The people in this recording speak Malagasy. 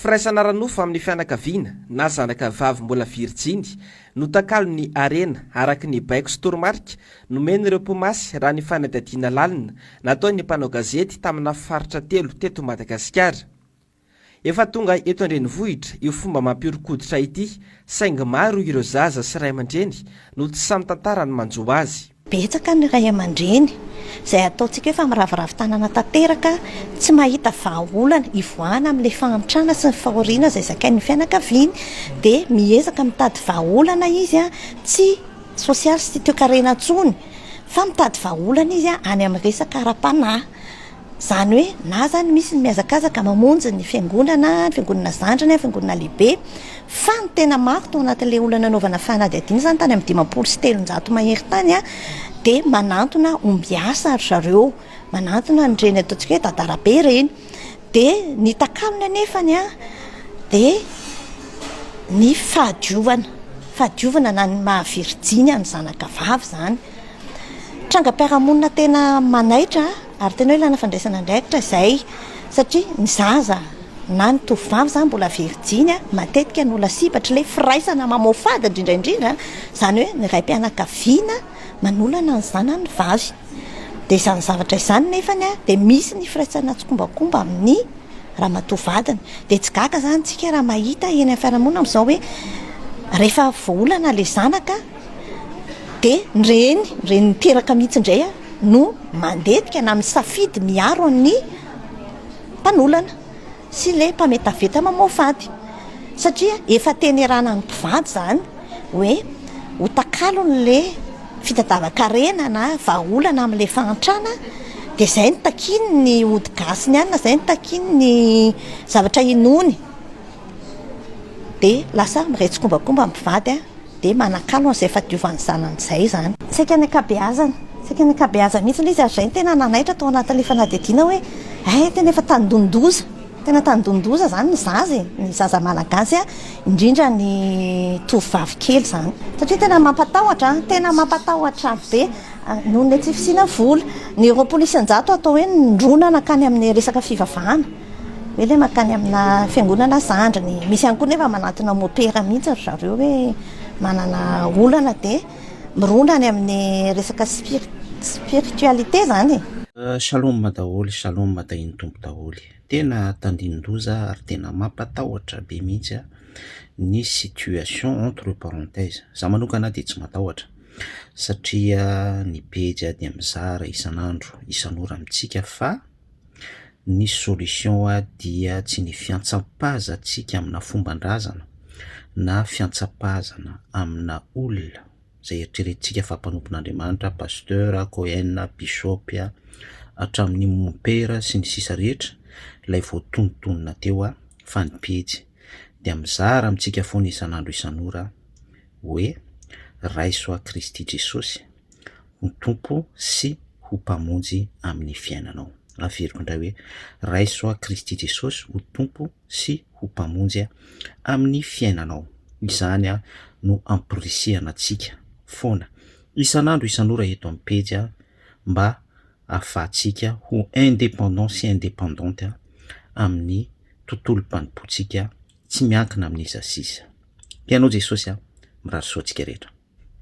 Firaisana ara-nofo amin'ny fianakaviana na zanaka vavy mbola virijiny no takalon'ny harena, araka ny baiko sy toromarika nomen'ireo mpimasy raha ny fanadihadiana lalina nataon'ny mpanao gazety tamina faritra telo teto Madagasikara. Efa tonga eto an-drenivohitra io fomba mampihoron-koditra ity, saingy maro ireo zaza sy ray aman-dreny no tsy sahy mitantara ny manjo azy. Betsaka ny ray aman-dreny, izay ataontsika hoe famiraviravy tanana tanteraka, tsy mahita vahaolana hivoahana amin'ilay fahantrana sy ny fahoriana izay zakain'ny fianakaviany, dia miezaka mitady vahaolana izy, tsy sosialy sy toekarena intsony, fa mitady vahaolana izy any amin'ny resaka ara-panahy. Izany hoe na izany misy ny mihazakazaka mamonjy ny fiangonana, ny fiangonana zandriny, ny fiangonana lehibe, fa ny tena maro tao anatin'ilay olona nanaovana fanadihadiana izany tany amin'ny dimampolo sy telonjato mahery tany dia manantona ombiasa ry zareo, manantona an'ireny ataontsika hoe dadarabe ireny. Dia ny takalony anefa ny dia ny fahadiovana, fahadiovana na ny maha virjiny an'ny zanakavavy izany. Trangam-piarahamonina tena manaitra. Ary tena hoe ilana fandraisana andraikitra izay satria ny zaza na ny tovovavy izany mbola virijiny matetika no lasibatry ilay firaisana mamoafady indrindra indrindra izany hoe ny raim-pianakaviana manolana ny zanany vavy. Dia izany zavatra izany nefa dia misy ny firaisana tsikombakomba amin'ny ramatoa vadiny. Dia tsy gaga izany isika raha mahita eny amin'ny fiarahamonina amin'izao hoe rehefa voaolana ilay zanaka dia ny reny, ny reny miteraka mihitsy indray no mandetika na misafidy miaro an'ny mpanolana sy le mpametaveta mamoafy ady satria efa tenerana ny mpivady zany hoe ho takalony le fitadavan-karena na vahaolana amle fahantrana de zay no takian'ny ody gasy ny anina zay no takian'ny zavatra inoany dia lasa miretsikombakomba ny mpivady dia manakalo an'izay fahadiovan'ny zanany izay izany. Saika ny ankabeazany, saika ny ankabeazany mihitsy ilay izy ary izay no tena nanaitra tao anatin'ilay fanadihadiana hoe hay tena efa tandindoza, tena tandindoza izany ny zaza e, ny zaza malagasy indrindra ny tovovavy kely izany satria tena mampatahotra, tena mampatahotra be noho ny tsy fisiana vola, ny roapolo isan-jato atao hoe nindroana nankany amin'ny resaka fivavahana. Hoe ilay mankany amina fiangonana zandriny. Misy ihany koa nefa manantona mopera mihitsy ry zareo hoe manana olana dia mirona any amin'ny resaka spiritualité izany e. Shalom daholo shalom tahin'ny Tompo daholo e. Tena tandindoza ary tena mampatahotra be mihitsy ny situation entre parenthèses. Za manokana dia tsy matahotra satria ny pejy dia mizara isan'andro isan'ora amintsika fa. Ny solution dia tsy ny fiantsampahazatsika amina fomban-drazana na fiantsapahazana amina olona izay eritreretintsika fa mpanompon'Andriamanitra, Pasteur, Cohen, Bishop, hatramin'ny Mompera sy ny sisa rehetra ilay voatonontonona teo a, fa ny pejy dia mizara amintsika foana isan'andro isan'ora hoe, Raiso ahy Kristy Jesosy, ho Tompo sy ho Mpamonjy amin'ny fiainanao. Averiko indray hoe, Raiso ahy Kristy Jesosy ho Tompo sy ho Mpamonjy amin'ny fiainanao. Izany no ampirisihana antsika foana isan'andro isan'ora eto amin'ny pejy mba hahafahantsika ho indépendant sy indépendante amin'ny tontolom-panompoantsika tsy miankina amin'iza sy iza. Te hanao Jesosy aho. Mirary soa antsika rehetra.